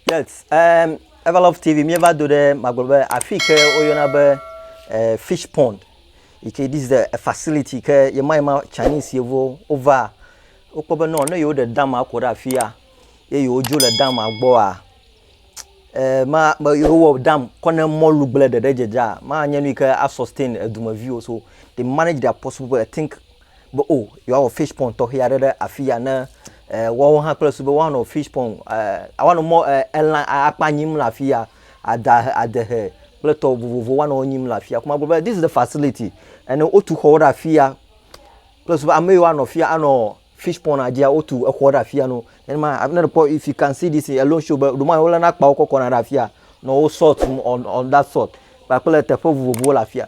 Yes, um, Everlove TV míeva do ɖe magblɔ be afi ke woyɔna be uh, fish pond yi ke this is the facility ke yema yema Chinese yevuwo wova wokpɔ be nɔ ne yewo ɖe dama kɔ ɖe afia ye yewo dzo le dama gbɔa eh, ma be yewɔ dam kɔ ne mɔlu gblẽ ɖeɖe dzedzea ma nye nu yi ke asustain edumeviwo so they manage their possible I think be o yewoawɔ fish pond tɔxɛ aɖe ɖe afi ya ne e, woawo hã kple su be woanɔ fish pond e, woanɔ mɔ e, elã akpa nyim le afi ya ada adehe kple tɔ vovovo woanɔ wo nyim le afi ya kuma gblɔ be this is the facility ene wotu xɔwo ɖe afi ya kple su be ame yiwo anɔ afi ya anɔ fish pond adzia wotu exɔ ɖe afi ya no nenema ne ɖekpɔ if you can see this alone show be ɖoma wolena akpawo kɔkɔna ɖe afi ya nɔ wo salt on on that salt kpakple teƒe vovovowo le afi ya.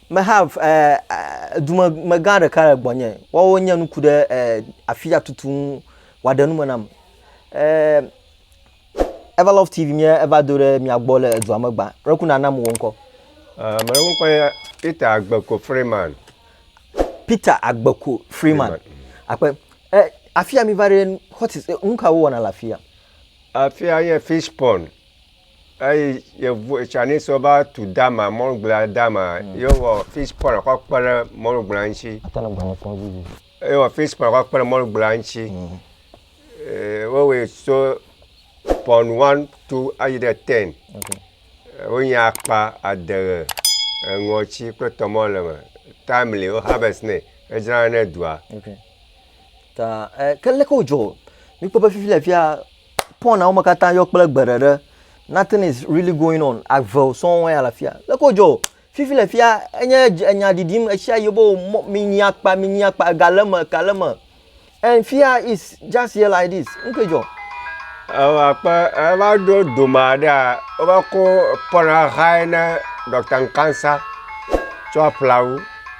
Meha dumegã ɖeka le gbɔnye, woawo nye nuku ɖe afia tutu ŋu wòaɖe nu me nam. Everlove TV mía eva do ɖe mia gbɔ le edua me gbã. Ɖeku nana mu wò ŋkɔ. Ame ɖe ŋkɔ nye Peter Agbeko Freeman. Peter Agbeko Freeman. Akpe. Afia mi va ɖe, what is, nu ka wowɔna le afia? Afia nye fish pond. eyi yevu Chinese va tu dama mɔlugblia dama mm. ye wɔ fish pond kɔ kpe ɖe mɔlugblia ŋuti ye wɔ fish pond kɔ kpe ɖe mɔlugblia ŋuti mm. eh, wowɔe so pond one two ayi ɖe ten wonye akpa adeghe eŋɔtsi kple tɔmɔ le me timely wo harvest nɛ edzrana ne dua ta eh, ke leke wodzɔ mikpɔ be fifi le fia Pɔn awo me katã yɔ kple gbe ɖeɖe. Nothing is really going on. Ave sɔŋ ya le afia. Leke wòdzɔ o. Fifi le fia, enye enya ɖiɖim ɣeshiaɣi be mɔ, minyi akpa, minyi akpa, ega le eme, ega le eme. And fia is just here like this. Nu kae dzɔ? Ewa akpe eva ɖo dome aɖea, wova kɔ Pɔn ahae ne Ɖɔkta Nkansah tsɔ aƒle awu.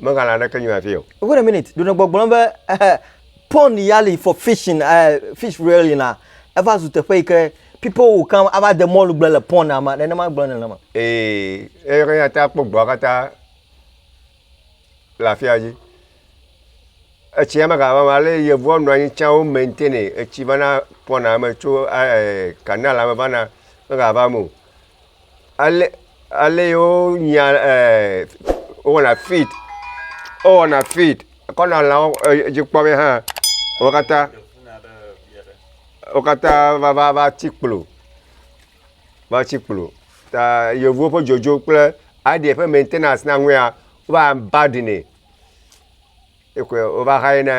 Megan la ɖeke nyɔ afie o. Wait a minute, ɖonɔ gbɔgblɔm be eh, pond ya li for fishing, eh, fish rearing la, eva zu teƒe yi ke people will come ava de mɔlu gble le pond la ma, nenema gblɔ nenema. Ee, eyi ke ate akpɔ gbɔa katã le afia dzi. Etsi ya mega va ma le yevua nɔ anyi tsã wo maintain etsi vana pɔna me tso eh, canal la me vana mega va me o. ale ale yi wo nyia e wowɔna fid wowɔna fid kɔna lãwo edzi kpɔ be hã wo katã wo katã va va va tsi kplo va tsi kplo ta yevuwo ƒe dzodzo kple aɖia ƒe mɛntenans na ŋua wo va abandinɛ. Ekɔe wova xae na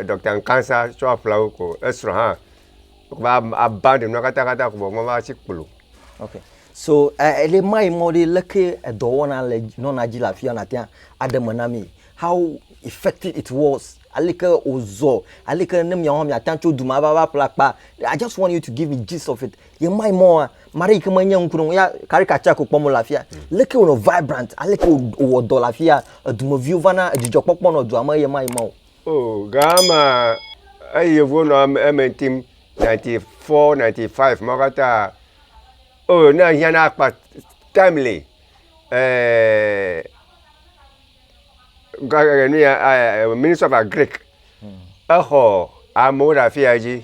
Ɖɔkta Nkansah tsɔ aƒle wo ko esrɔ̃ hã va abã ɖe nua katã katã ko vɔ meva tsi kplo. Ok. So ele ma yi mɔ ɖe leke edɔwɔna le nɔna dzi le afi ya nàte ŋu aɖe me na mí. How effective it was. Aleke wòzɔ. Aleke ne míawo hã míate ŋu atso du ma va va ƒle akpa. I just want you to give me gist of it. ye mai mɔa mari ke menye ŋkuɖo ya caricature ko kpɔm le afia leke wonɔ vibrant aleke wowɔ dɔ le afia edumeviwo va na dzidzɔ kpɔkpɔ nɔ dua me ye mai mɔ o oh gama eyi yevuwo nɔ eme tim 94 95 ma katã oh ne hiã na akpa timely eh gare ne ya eh, minister of agric exɔ amewo ɖe afia dzi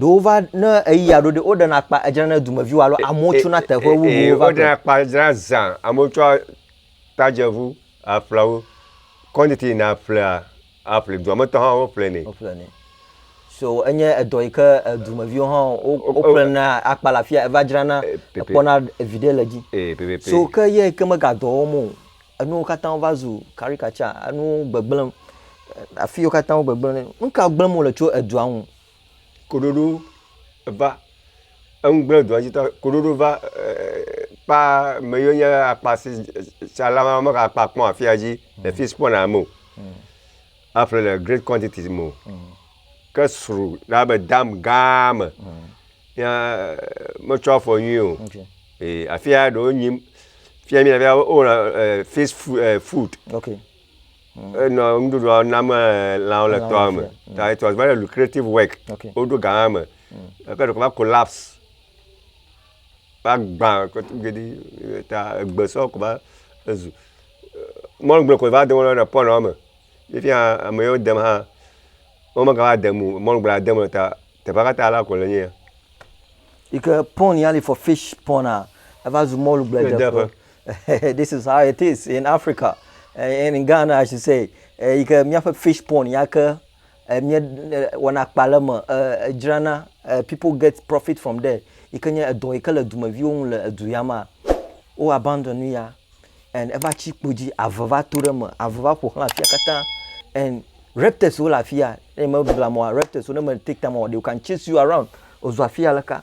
Ɖo wova ne eya ɖo ɖe woɖena akpa edzra ne dumeviwo alo amewo tso na teƒe wuwo va. Ee woɖena akpa edzra zã amewo tso tadzeʋu aƒle wo. Kɔnditi na ƒlea aƒle dua me tɔ hã woƒle nɛ. Woƒle nɛ. So enye edɔ yi ke dumeviwo hã woƒle na akpa le afia eva dzra na ekpɔna evi ɖe le dzi. So ke ye ke mega dɔ wɔm o. Enuwo katã wova zu caricature, enuwo gbegblẽm, afiwo katã wo gbegblẽ. Nu ka gblẽm wole tso edua ŋu? Koɖoɖo va, eŋu gblẽ edua dzi ta, koɖoɖo va kpa me yiwo nye akpa si tsalawo mega kpa kpɔ afia dzi le fi si kpɔna ame o. Aƒle le great quantities me o. Ke sru na be dam gã me. Ya metsɔ afɔ nyuie o. Ee, afi ya ɖewo nyim. Fia mi fia o na eh, fish fu- eh, food. Ok. Enɔ nuɖuɖua nam eh, lãwo le Lãwo tɔa le me. fia, Ta it was very lucrative work. Ok. Woɖo gã me. Ke ɖeko va collapse. va gbã kɔto geɖe eyi ta egbe sɔ ko va zu mɔlu gble koe va de mɔ na pɔlu woame ye fia ame yiwo dem hã womegava dem o mɔlu gblea dem le ta teƒea katã ala koe le nye ya. Yi ke pɔlu ya li for fish pɔlu a eva zu mɔlu gble de ƒe. This is how it is in Africa, in Ghana I should say, eyi ke míaƒe fish pɔlu ya ke. eh, mie eh, wɔna akpa le me eh, edzrana eh, people get profit from there yi ke nye edɔ yi ke le dumeviwo ŋu le edu ya ma wo abandon nu ya and eva tsi kpo dzi ave va to ɖe me ave va ƒo xlã afia katã and reptiles wo le afia ne me blamɔa reptiles wo ne me take time o they can chase you around ozu afia leka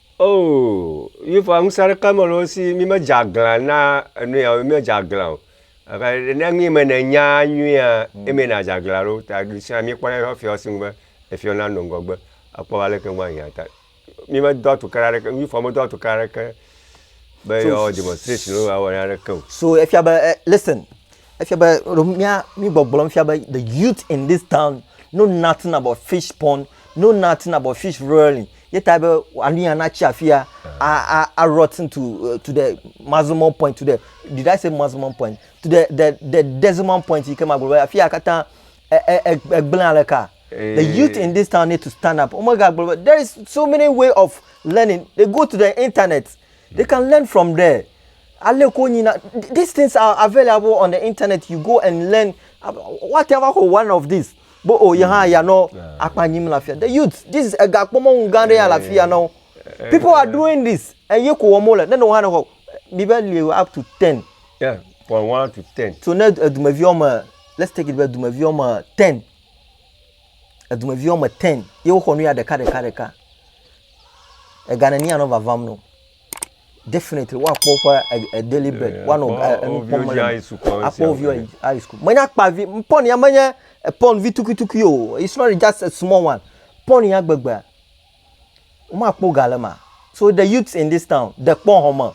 Oo, Yehowa ŋusẽ aɖeke mele wo si, mímedze aglã na enu ya o, mímedze aglã o. Eka- Ne nu yi me nènya nyuia, emee nàdze aglã ɖo. Ta ɖesia míekpɔna eƒe fiɔ si ŋugbe efiɔ nanɔ ŋgɔgbe akpɔ be aleke ŋu ahiã ta. Mímedo atukena aɖeke, Yehowa medo atukena aɖeke be yeawɔ demonstration alo yeawɔ nu aɖeke o. So efia be e listen, Efia be mía mí gbɔgblɔm fia be the youth in this town know nothing about fish pond, know nothing about fish rolling. Ye ta be anu ya na tsi afia a a a rotten to uh, to the maximum point to the did I say maximum point to the the the decimal point yi ke ma gblɔ be afia katã egblẽ e, e, aleka. The eh. youth in this town need to stand up. Omega gblɔ be there is so many way of learning. They go to the internet. They can learn from there ale wokɔ nyina these things are available on the internet you go and learn woate va xɔ one of these bo o oh, yɛ hã ya nɔ akpa nyim le afia the youth this is ega kpɔmɔnu gã ɖe ya le afia na wo people are doing this eye ko wɔm wole ne ne wo hã ne xɔ mi be li up to ten. Yeah, from one to ten. so ne edumevi wɔme let's take it be edumevi wɔme ten edumevi wɔme ten ye woxɔ nu ya ɖeka ɖeka ɖeka. Ega neni anɔ vavam no. Definitely woakpɔ woƒe e, daily bread. Eh, woanɔ eh, enu kpɔm le. Akpɔ wo viwo high school. Menye akpa vi, pɔn ya menye pɔn vi tukutuku o. It's not just a small one. Pɔn ya gbegbe. Womakpɔ ga le ma. So the youths in this town, dekpɔ hɔme,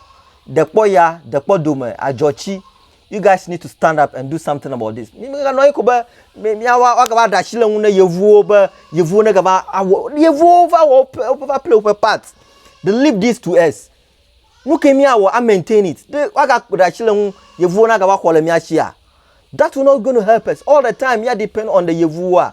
dekpɔ ya, dekpɔ dome, adzɔtsi. You guys need to stand up and do something about this. Mi mi ganɔ anyi ko be mi mi awa wa gava ɖasi le ŋu ne yevuwo be yevuwo ne gava awɔ yevuwo va wɔ woƒe woƒe va play woƒe part. They leave this to us. Nu ke mi awɔ a maintain it. Ɖe wa ga ɖasi le ŋu yevuwo na gava xɔ le mia sia. That will not going to help us. All the time mi a depend on the yevuwoa.